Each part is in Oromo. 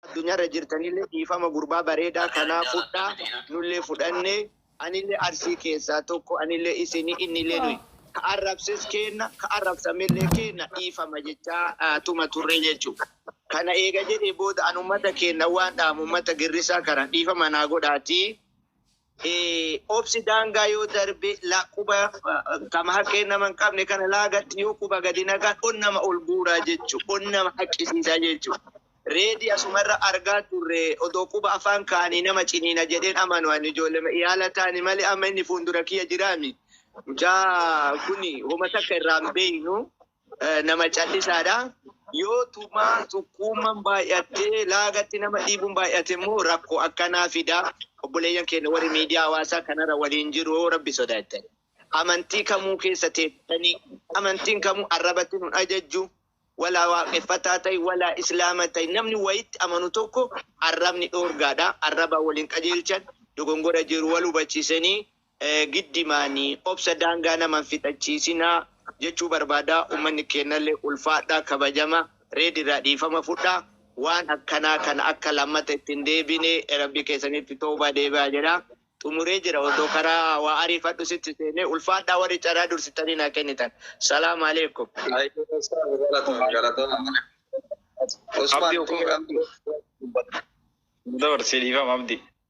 Addunyaarra jirtanillee dhiifama gurbaa bareedaa kanaa fudhaa nullee fudhannee anillee Arsii keessaa tokko anillee isinii innillee nuyi ka arrabses keenna ka arrabsamellee keenna dhiifama jechaa tuma turre jechu kana eega jedhee booda an ummata keenna waan dhaamu ummata girrisaa kana dhiifama naa godhaatii obsi daangaa yoo darbe la quba kama haqqee nama hin qabne kana laagatti yoo quba gadi naqan on nama ol guuraa jechu on nama haqqisiisaa jechu reedi asumarra argaa turre odoo quba afaan kaanii nama ciniina jedheen amanu ani ijoollee iyaala taani malee amma inni fuundura kiyya jiraami mucaa kuni homa takka irraa hin beeynu nama callisaadha. Yoo tumaa xuqquumman baay'attee laagatti nama dhiibuun baay'ate immoo rakko akkanaa fida. Obboleeyyan keenya warri miidiyaa hawaasaa kanarra waliin jiru yoo rabbi sodaattani. Amantii kamuu keessa teessanii amantiin kamuu arrabatti nun ajajju. Walaa waaqeffataa ta'i, walaa islaama ta'i. Namni wayitti amanu tokko arrabni dhoorgaadha. Arrabaa waliin qajeelchan dogongora jiru wal hubachiisanii giddi maani obsa daangaa nama hin fixachiisina jechuu barbaada ummanni keennalle ulfaadha kabajama red irraa dhiifama fudha waan akkanaa kana akka lammata itti hin deebine rabbi keessanitti towbaa deebi'a jedha xumuree jira odoo karaa waa ariifadhu sitti seene ulfaadha warri caraa dursitanii naa kennitan salaam aleekum. Ayyuu ustaaz galatoomi galatoomi. Abdi Usmaan uffee Tuuran. Dabarsii dhiifama abdi.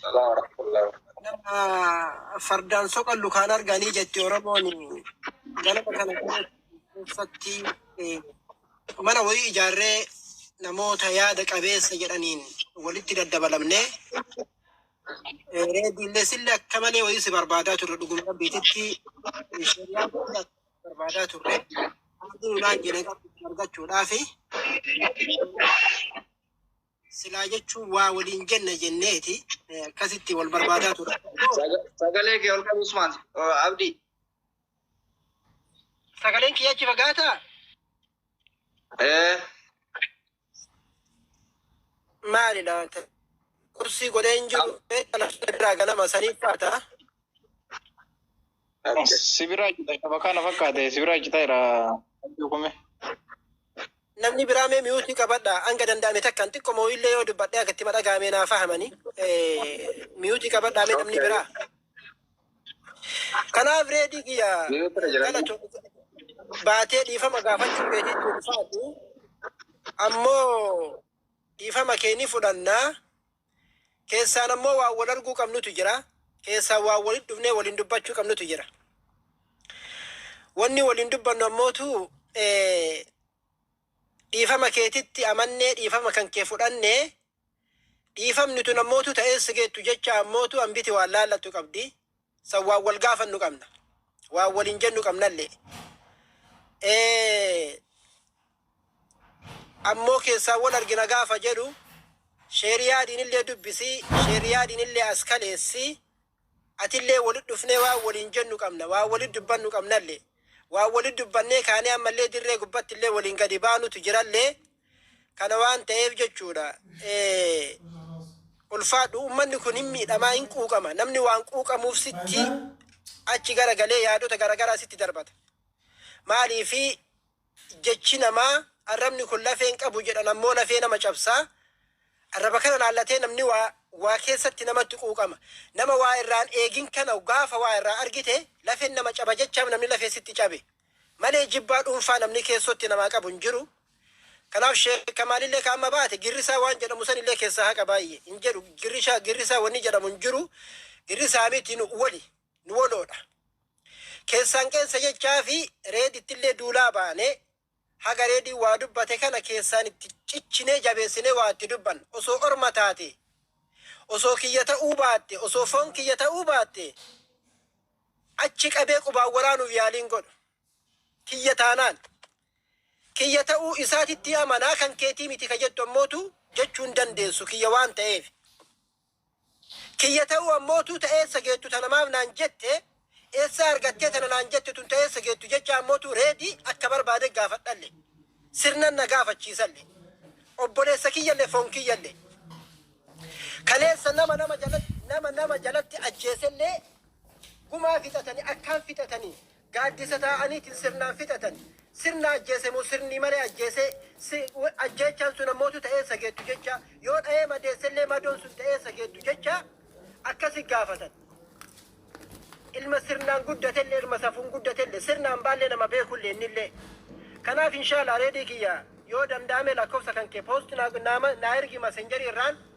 Salaam warahmatullahi wabarakatuh. Nama fardaan soqallu kaan arganii jetti Oromoon ganama kana keessatti eh, mana wayii ijaarree namoota yaada qabeessa jedhaniin walitti daddabalamnee eh, reediillee sillee akka malee wayii si barbaadaa turre dhuguma rabbiititti eh, shari'aa biyya barbaadaa turre haalli naan jedhan argachuudhaafi Silaa jechuun waa waliin jenna jenneeti eh, akkasitti wal barbaadaa ture. Saga- Sagalee kee ol qabi Usmaan. Uh, Abdi. Sagaleen kiyya achi fagaataa? Eh, Maalidha? Kursii godhee hin jiru. Kana irraa ganama sanii faata. Sibiraa cita qaba kana fakkaate sibiraa cita jira dukume. Namni biraa mee miyuutii qabadha hanga danda'ame takkaan xiqqoo moo illee yoo dubbadhee akka itti madhagaamee naa fahamanii miyuutii qabadhaa mee namni biraa. Kanaaf reedii kiyya galatu baatee dhiifama gaafachuu keetii ulfaatu ammoo dhiifama kee ni fudhannaa. Keessaan ammoo waan wal arguu qabnutu jira. Keessaan waan walitti dhufnee waliin dubbachuu qabnutu jira. Wanni waliin dubbannu ammootu dhiifama keetitti amannee dhiifama kan kee fudhannee dhiifamni tun ammootu ta'ee sigeettu jecha ammootu hambiti waan laallattu qabdi. San waan wal gaafannu qabna. Waan waliin jennu qabnallee. Ee, ammoo keessaan wal argina gaafa jedhu sheeriyaadiinillee dubbisi, sheeriyaadiinillee as kaleessi, atillee walit dhufnee waan waliin jennu qabna, waan walit dubbannu qabnallee. Waan walit dubbannee kaanee ammallee dirree gubbattillee waliin gadi baanutu jirallee. Kana waan ta'eef jechuudha. Ulfaadhu uummanni kun hin miidhamaa hin quuqama. Namni waan quuqamuuf sitti achi gara galee yaadota garaagaraa sitti darbata. Maaliif jechi namaa arrabni kun lafeen qabu jedhan ammoo lafee nama cabsaa. Arraba kana laallatee namni waa waa keessatti namatti quuqama. Nama waa irraan eegin kana gaafa waa irraa argite lafeen nama caba jechaaf namni lafee sitti cabe. Malee jibbaa dhuunfaa namni keessotti namaa qabu hin jiru. Kanaaf sheek kamaalillee ka amma baate girrisaa waan jedhamu sanillee keessaa haqa baayye hin jedhu girrishaa girrisaa wanni jedhamu hin jiru girrisaa miti nu woli nu woloodha keessaan qeensa jechaafi reedittillee duulaa baane haga reediin waa dubbate kana keessaan itti cichinee jabeessinee waa itti dubban osoo orma taate osoo kiyya ta'uu baatte osoo foon kiyya ta'uu baatte achi qabee qubaan waraanuuf yaaliin godhu kiyya taanaan, kiyya ta'uu isaatitti amana, kan keetii miti ka jettu ammootu jechuu hin dandeessu, kiyya waan ta'eef. Kiyya ta'uu ammootu ta eessa geettu tana maaf naan jette, eessaa argattee tana naan jette tun ta eessa geettu jechaa ammootu ready akka barbaade gaafadhalle. Sirnan na gaafachiisalle. Obboleessa kiyyalle foon kiyyalle. Kaleessa nama nama jalatti nama nama jalatti ajjeeselle gumaa fixatani akkaan fixatani Gaaddisa taa'aniitiin sirnaan fixatan. Sirna ajjeese moo sirnii malee ajjeese? Si, w, ajjeechaan sun ammootu ta'eessa geettu jecha. Yoo dha'ee madeesse illee madoon sun ta'eessa geettu jecha akkasi gaafatan. Ilma sirnaan guddate illee ilma safuun guddate illee sirna hambaa illee nama beeku illee inni illee. Kanaaf inshaala reedii kiyya yoo danda'ame lakkofsa kan kee post naa, naa, naa ergi masenjeri irraan.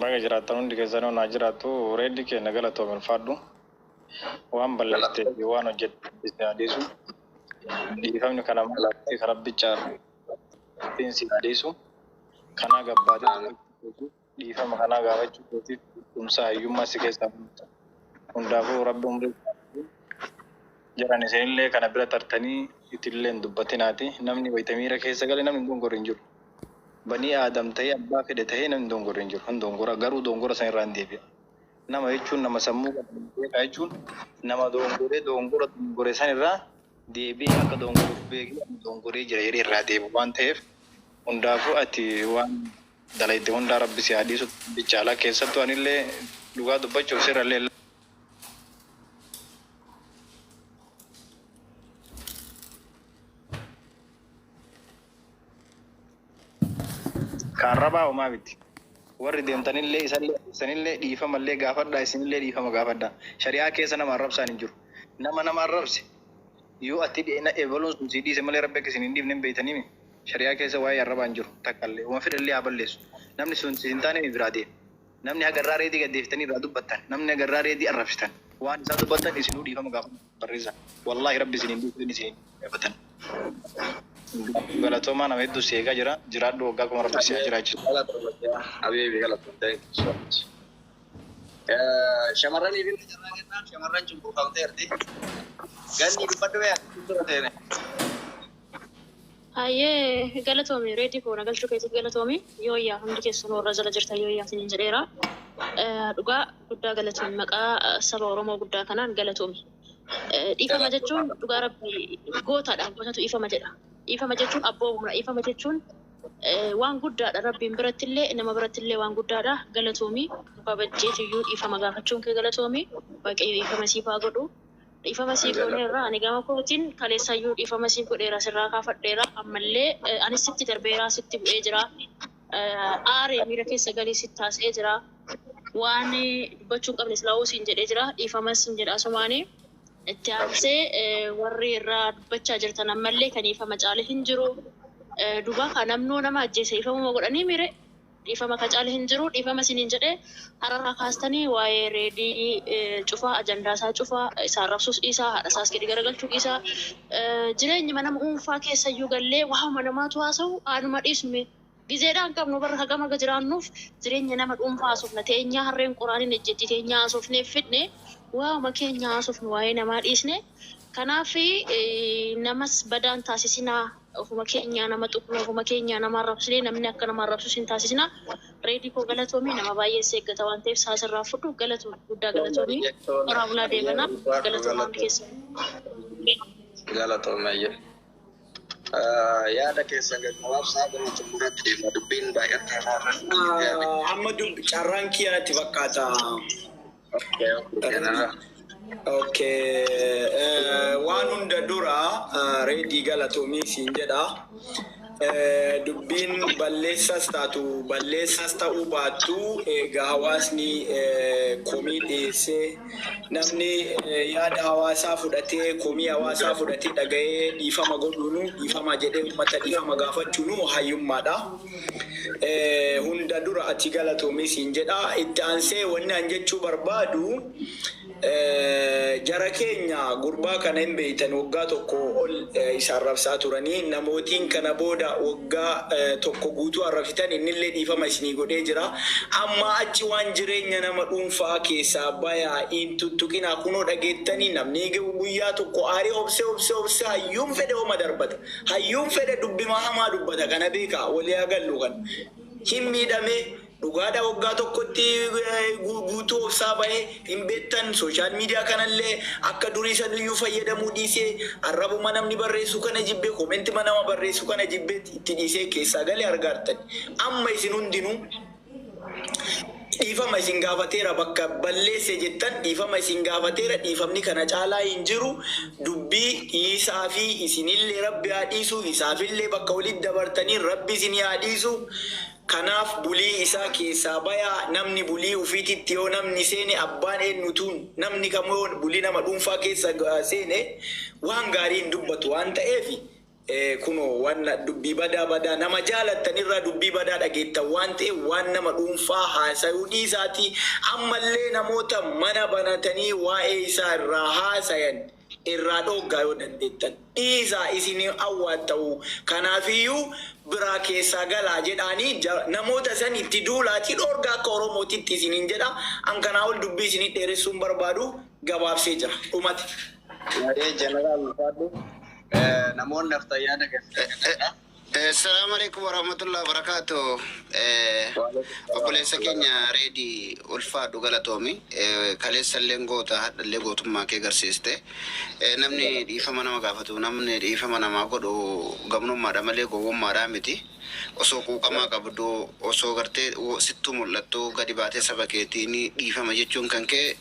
Baga jiraattan hundi keessanuu naa jiraatu Reedi keenya galatoomi ulfaadhu waan balleessitee fi waan hojjette rabbi si haa dhiisu dhiifamni kan amala fi kan rabbi caalu rabbiin si haa dhiisu kanaa gabbaatee dubbachuu keetiif dhiifama kanaa gaafachuu keetiif beekumsa hayyummaa si keessaa hundaafuu rabbi umrii si haa dheeressu Jaran isinillee kana bira tartanii itillee hin dubbatinaati. Namni wayta miira keessa gale namni hin dongorre hin jiru. Banii Aadam tahee abbaa fedhe tahee namni dongorre hin jiru. Hin dongora garuu dongora san irraa hin deebi'a. Nama jechuun nama sammuu qabu nama beekaa jechuun nama dongoree dongora dongore san irraa deebi'ee akka dongore uf beekee ani dongoree jira jedhee irraa deebi'u waan taheef hundaafuu ati waan dalayde hundaa rabbi si haa dhiisu rabbicha ala keessattuu anillee dhugaa dubbachuuf sirrallee Ka arrabaa homaa miti. Warri deemtanillee isallee arrabsanillee dhiifamallee gaafadhaa isinillee dhiifama gaafadhaa. Shari'aa keessa nama arrabsaan hin jiru. Nama nama arrabse yoo atti dheena ebaluun sun sii dhiise malee rabbi akka isin hin dhiifne hin beeytaniimi. Shari'aa keessa waa'ee arrabaa hin jiru takkallee. Homa fedhellee haa balleessu. Namni sun si hin taanee mi biraa deema. Namni haga irraa Reedii gad deeftanii irraa dubbattan, namni haga irraa Reedii arrabsitan, waan isaa dubbattan isinuu dhiifama gaafadhaa nuuf barreessa. Wallaahi Rabbi isin hin dhiisu inni isin hin gaafatan. Galatoomaa nama hedduu si eegaa jira. Jiraadhu waggaa kuma Rabbi si haa jiraachisu. Galatoomi yaa habiibi galatoomi thank you so much. Shamarraniif illee carraa kennaa shamarran cunqurfamteerti. Gannii dubbadhu mee ati itti seenee. Hayyee galatoomi Reedi koo na galchuu keetiif galatoomi yooyyaa hundi keessanuu warra jala jirtan yooyyaa isiniin jedheera. Eh, Dhugaa guddaa galatoomi maqaa eh, saba Oromoo guddaa kanaan galatoomi. Eh, Dhiifama jechuun dhugaa rabbi gootadha gootatu dhiifama jedha. Dhiifama jechuun abboomamudha dhiifama jechuun eh, waan guddaadha rabbiin birattillee nama birattillee waan guddaadha galatoomi. Babajjeetiyyuu dhiifama gaafachuun kee galatoomi waaqayyo dhiifama siif haa godhu. Dhiifama siif gooneerra. Ani gama kootiin kaleessayyuu dhiifama siif godheera, sirraa kaafadheera. Ammallee anis sitti darbeera, sitti bu'ee jira. Aari miira keessa gali sitti haasa'ee jira. Waan dubbachuu hin qabne silaahuu siin jedhee jira. Dhiifamas siin jedha asumaan. Itti aansee warri irra dubbachaa jirtan ammallee kan dhiifama caale hin jiru. Dubaa kaa namnoo nama ajjeese dhiifamuma godhanii miire? Dhiifama ka caalu hin jiru. Dhiifama isiniin jedhe araraa kaastanii waa'ee Reedii cufaa, ajandaa isaa cufaa, isa arrabsuus dhiisaa, haadha isaas gadi garagalchuu dhiisaa. Jireenyuma nama uunfaa keessayyuu gallee waa'uma namaatu haasawu haa numa dhiisnu mee. Gizeedhaa hin qabnu bar hagam haga jiraannuuf jireenya nama dhuunfaa haasofna. Teenyaa harreen qoraan hin ejjettii teenyaa haasofnee fidne waa'uma keenya haasofnu waa'ee namaa dhiisnee. Kanaaf namas badaa hin taasisinaa. Ofuma keenyaa nama tuqnee, ofuma keenyaa nama arrabsinee namni akka nama arrabsus hin taasisinaa. Reedi koo galatoomi nama baay'een si eeggata waan ta'eef sa'a sirraa hin fudhu. Galatoomi guddaa galatoomi. Horaa bulaa deebana. Galatoomaa hundi keessan. Galatoomi hayyee. Yaada keessan gaggabaabsaa gara xumuraatti deemna. Dubbiin baay'atteera irra hin deebi'amin. Amma dubbi carraan kiyya natti fakkaata. Waan hunda dura reedii galatoomii siin jedha. Dubbiin balleessas taatu balleessas ta'uu baattu eega hawaasni komii dhiyeessee namni yaada hawaasaa fudhatee komii hawaasaa fudhatee dhaga'ee dhiifama godhuunu dhiifama jedhee uummata dhiifama gaafachuunu hayyummaadha. Hunda dura ati galatomi siin jedha itti aansee wanni an jechuu barbaadu jara keenya gurbaa kana hin beeytan waggaa tokko ol isa arrabsaa turanii namootiin kana booda waggaa tokko guutuu arrafitan innillee dhiifama isinii godhee jira ammaa achi waan jireenya nama dhuunfa'aa keessaa bayaa hin tuttuqinaa kunoo dhageettanii namni guyyaa tokko aaree obsee obsee obsee hayyuun fedhe homa darbata Hayyuun fedhe dubbimaa hamaa dubbata kana beeka wali haa gallu kan hin miidhame dhugaadha waggaa tokkotti guutuu obsaa bahe hin beektan social media kanallee akka durii sanuyyuu fayyadamuu dhiisee arrabuma namni barreessu kana jibbee commentima nama barreessu kana jibbeet itti dhiisee keessaa gale argaartani amma isin hundinuu Dhiifama isin gaafateera bakka balleesse jettan dhiifama isin gaafateera dhiifamni kana caalaa hin jiru dubbii dhiisaafi isinillee rabbi haa dhiisu isaafillee bakka walitti dabartaniin rabbi isinii haa dhiisu kanaaf bulii isaa keessaa bayaa namni bulii ufiititti yoo namni seene abbaan eennutuu namni kamuu yoo bulii nama dhuunfaa keessa seene waan gaarii hin dubbatu waan ta'eef Ee kunoo wanna dubbii badaa badaa nama jaalattan irraa dubbii badaa dhageettan waan ta'eef waan nama dhuunfaa haasayuu dhiisaatii ammallee namoota mana banatanii waa'ee isaa irraa haasayan irraa dhooggaa yoo dandeettan dhiisaa isin hin awwaatta'u kanaafiyyuu biraa keessaa galaa jedhaanii namoota san itti duulaatii dhoorgaa akka oromootitti isiniin jedha an kanaa ol dubbii isinii dheeressuun barbaadu gabaabsee jira dhumati. Hayyee General ulfaadhu. Namoonni nafta yaada gaffiidha kanadha. Salaamu alaikum warahmatullahi wabarakaatu. Obboleessa keenya reedii ulfaadhu galatoomi. Kaleessa illee goota hadha illee gootummaa kee garsiiste. Namni dhiifama nama gaafatu namni dhiifama namaa godhu gamnummaadha malee gowwummaadhaa miti. Osoo quuqamaa qabduu, osoo gartee sittuu mul'attuu gadi baatee saba keetiin dhiifama jechuun kanke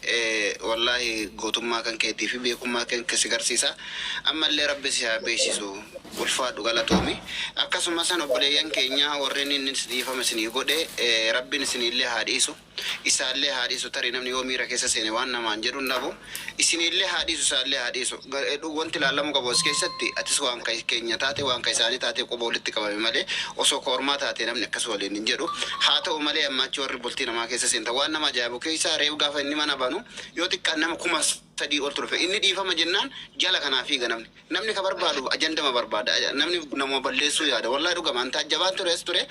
wallaahi gootummaa kankeetii fi beekummaa kanke si garsiisa. Ammallee Rabbi si haa beeksisu. Ulfaadhu galatoomi. Akkasumasan obboleeyyan keenya warri inni dhiifama isinii godhe Rabbiin isiniillee haa dhiisu. Isaallee haa dhiisu tarii namni yoo miira keessa seene waan namaan jedhu hin dhabu. Isiniillee haa dhiisu isaallee haa dhiisu. Wanti ilaalamuu qabu as keessatti atis waan ka keenya taate waan ka isaanii taatee quba walitti qabame malee osoo ka ormaa taatee namni akkas waliin hin jedhu. Haa ta'u malee ammaa achi warri bultii namaa keessa seentan waan nama ajaa'ibu keessaa reef gaafa inni mana banu yoo xiqqaan nama 3000 oltu dhufe. Inni dhiifama jennaan jala kanaa fiiga namni. Namni ka barbaadu ajandama barbaada namni namuma balleessuu yaada wallahi dhugama an taajjabaan ture as ture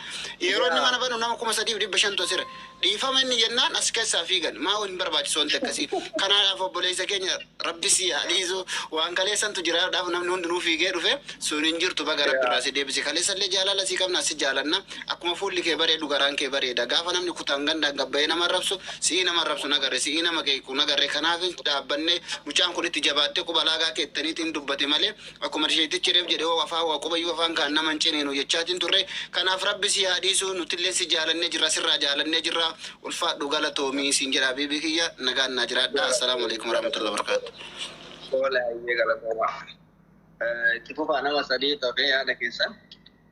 yeroo inni mana banu nama kuma sadiif dhibba shantu asira dhiifama inni jennaan as keessaa fiigan maa hin barbaachisu wanti akkasii kanaadhaaf obboleessa keenya rabbi si haa dhiisu waan kaleessantu jiraadhaaf namni hundinuu fiigee dhufe sun hin jirtu baga rabbi irraa si deebise kaleessallee jaalala si qabna si jaalanna Akkuma fuulli kee bareedu garaan kee bareeda. Gaafa namni kutaan gandaan gad bahee nama arrabsu, si'ii nama arrabsu hin agarre, si'ii nama qeequ hin agarre. Kanaafin dhaabbannee mucaan kun itti jabaattee quba laagaa keettaniitiin dubbate malee akkuma tisheettichi reef jedhe hoo afaan waa qubayyuu afaan kaan nama hin ciniinu jechaatiin turre. Kanaaf rabbi sii haa dhiisu nutilleen si jaalannee jirra sirraa jaalannee jirra ulfaadhu galatoomi siin jedha habiibii kiyya nagaan naa jiraadhaa assalaamu aleykum warahmatullahi wabarakaatuh. Tole hayyee galatoomaa. Itti fufaa nama sadii tokee yaada keessan.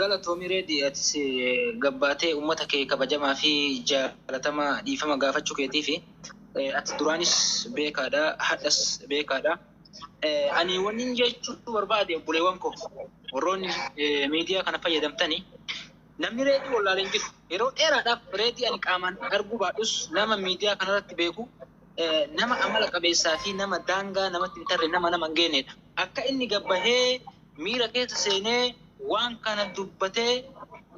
Galatoomi Reedi atis gabbaatee ummata kee kabajamaa fi jaalatamaa dhiifama gaafachuu keetiifi. Ati duraanis beekaadha, hadhas beekaadha. Ani wannin jechuu barbaade obboleewwan koo warroonni miidiyaa kana fayyadamtani namni reedii wallaalee hin jiru. Yeroo dheeraadhaaf reedii ani qaamaan arguu baadhus nama miidiyaa kanarratti beeku nama amala qabeessaa fi nama daangaa namatti hin tarre nama nama hin geenyedha. Akka inni gabbahee miira keessa seenee waan kana dubbate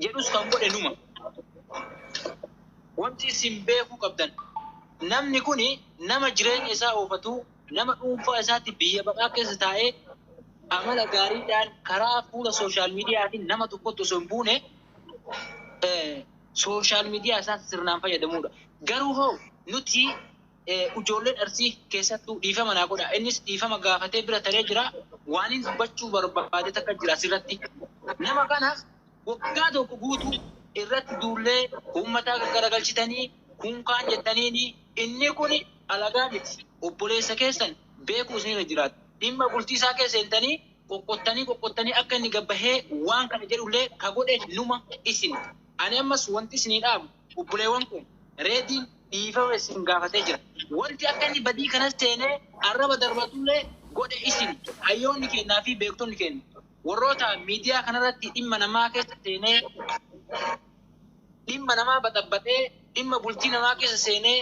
jedhus kan godhe numa. Wanti isin beekuu qabdan namni kun nama jireenya isaa oofatu, nama dhuunfaa isaatti biyya baqaa keessa taa'ee amala gaariidhaan karaa fuula sooshaal miidiyaatiin nama tokkotti osoo hin buune sooshaal miidiyaa isaatti sirnaan fayyadamuudha. Garuu hoo nuti ujoolleen Arsii keessattuu dhiifama naa godhaa innis dhiifama gaafatee bira taree jiraa waanin dubbachuu barbaade takka jira asirratti nama kana waggaa tokko guutuu irratti duullee uummataa gaggaragalchitanii kunkaan jettaniini inni kun alagaa miti obboleessa keessan beekuu isinirra jiraata dhimma bultii isaa keessa seentanii qoqqottanii qoqqottanii akka inni gabbahee waan kana jedhullee ka godhe numa isin ani ammas wanti isinii dhaamu obboleewwan kun reediin dhiifama isin gaafatee jira. Wanti akka inni badii kanas seenee arraba darbatullee godhe isin hayyoonni keennaa fi beektonni keenna warroota miidiyaa kanarratti dhimma namaa keessa seenee dhimma namaa baxabbaxee dhimma bultii namaa keessa seenee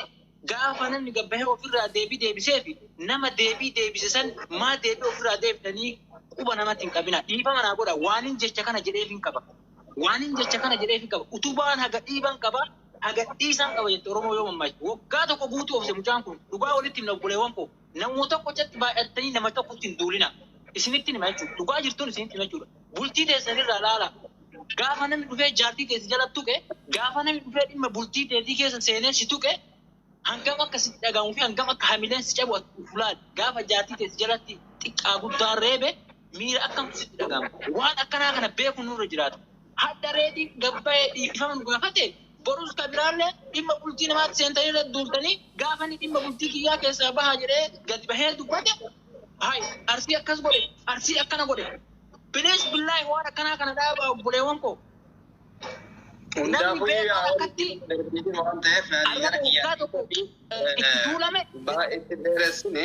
gaafa namni gabbahee ofirraa deebii deebisee fi nama deebii deebise san maa deebii ofirraa deebitanii quba namatti hin qabina dhiifama naa godha waanin jecha kana jedheefin qaba waanin jecha kana jedheefin qaba utubaan haga dhiiban qaba Na gadhiisaan qaba jette Oromoo yoo mammaaste. Waggaa tokko guutuu obse mucaan kun. Dhugaa walitti himna obboleewwan koo. Namuma tokko catti baay'attanii nama tokkotti hin duulinaa. Isinittin hima jechuudha. Dhugaa jirtuun isinitti hima jechuudha. Bultii teessan irraa ilaalaa. Gaafa namni dhufee jaartii tee si jala tuqe, gaafa namni dhufee dhimma bultii teetii keessa seenee si tuqe, hangam akka sitti dhaga'amuu fi hangam akka hamileen si cabu ati of ilaali. Gaafa jaartii tee si jalatti xiqqaa guddaan reebe miira akkamtu sitti dhaga'ama. Waan akkanaa kana beekuun nurra jiraata. Hadha reedi gabbaye dhiifama nu gaafate borus ka biraalle dhimma bultii namaatti seentanii irratti duultanii gaafa inni dhimma bultii kiyyaa keessaa baha jedhee gadi bahee dubbate hay arsii akkas godhe arsii akkana godhe bilis billaahi waan akkanaa kana dhaabaa obboleewwan koo namni Hundaafuu beekaa yaa akkatti darbiitiin waan ta'eef naannoo ayyaana gara waggaa kiyyaatiin tokko itti duulame baay'ee itti dheeressine.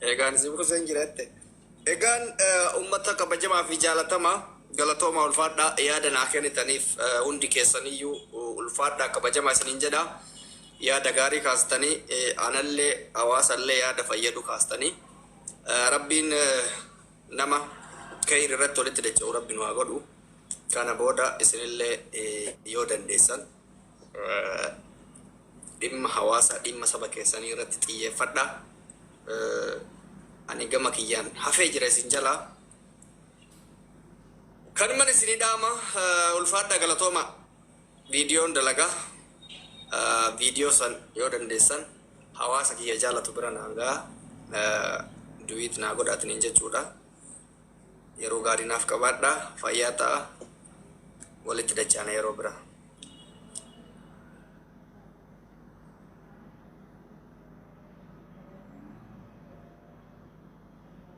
Egaan si buusen jira jette. Egaan ummata kabajamaa fi jaalatamaa galatoomaa ulfaadhaa yaada naa kennitaniif hundi keessaniyyuu ulfaadhaa kabajamaa isiniin jedha. Yaada gaarii kaastanii anallee hawaasallee yaada fayyadu kaastanii. Rabbiin nama keyri irratti walitti dacha'u rabbi nu haa godhu. Kana booda isinillee yoo dandeessan. Dhimma hawaasaa, dhimma saba keessanii irratti xiyyeeffadhaa. Ani gama kiyyaan hafee jira isin jalaa. Kanuman isinii dhaama ulfaadhaa galatooma viidiyoon dalagaa viidiyoo san yoo dandeessan hawaasa kiyya jaalatu bira naan ga'a duwiit naa godhaatiniin jechuudha. Yeroo gaarii naaf qabaadhaa. Fayyaa ta'a. Walitti dachaana yeroo biraa.